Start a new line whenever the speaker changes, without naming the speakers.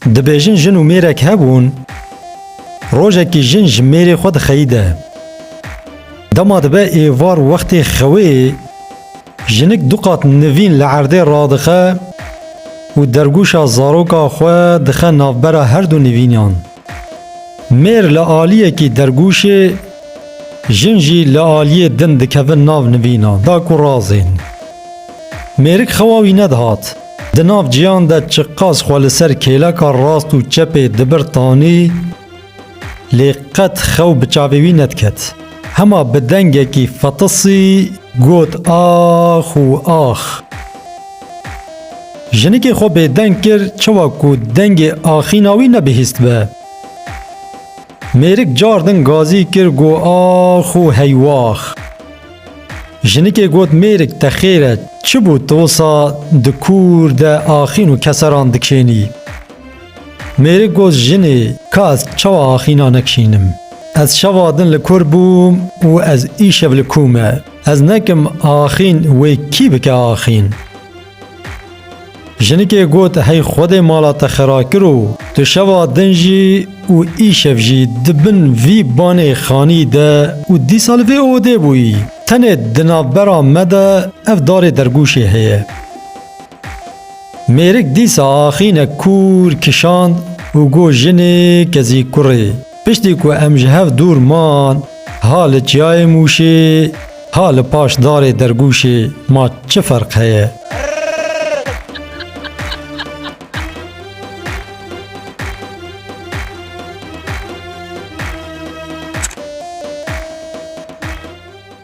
Dibêjin jin û mêrek hebûn, rojekî jin ji mêrê xwe dixeyide. Dema dibe êvar wextê xewê, jinik du qat nivîn li erdê radixe û dergûşa zaroka xwe dixe navbera herdu nivînan. Mêr li aliyekî dergûşê, jin jî li aliyê din dikevin nav nivîna, da ku razên. Mêrik xewa wî nedihat. Di nav cîyan de çiqas xwe li ser kêleka rast û çepê dibir tanî, lê qet xew bi çavê wî nediket. Hema bi dengekî fetisî got ax û ax. Jinikê xwe bêdeng kir çawa ku dengê axîna wî nebihîstbe. Mêrik cardin gazî kir got ax û hey wax. Jinikê got mêrik te xêr e çi bû tu wisa di kûr de axîn û keseran dikşênî. Mêrik got jinê ka ez çawa axîna nekşînim. Ez şeva din li kur bûm û ez îşev li kû me. Ez nekim axîn wê kî bike axîn. Jinikê got hey xwedê mala te xera kir û tu şeva din jî û îşev jî di bin vî banê xanî de û dîsa li vê odê bûyî. Tenê di navbera me de ev darê dergûşê heye. Mêrik dîsa axîne kûr kişand û got jinê kezî kurê. Piştî ku em ji hev dûr man, ha li çiyayê Mûşê, ha li paş darê Dergûşê ma çi ferq heye?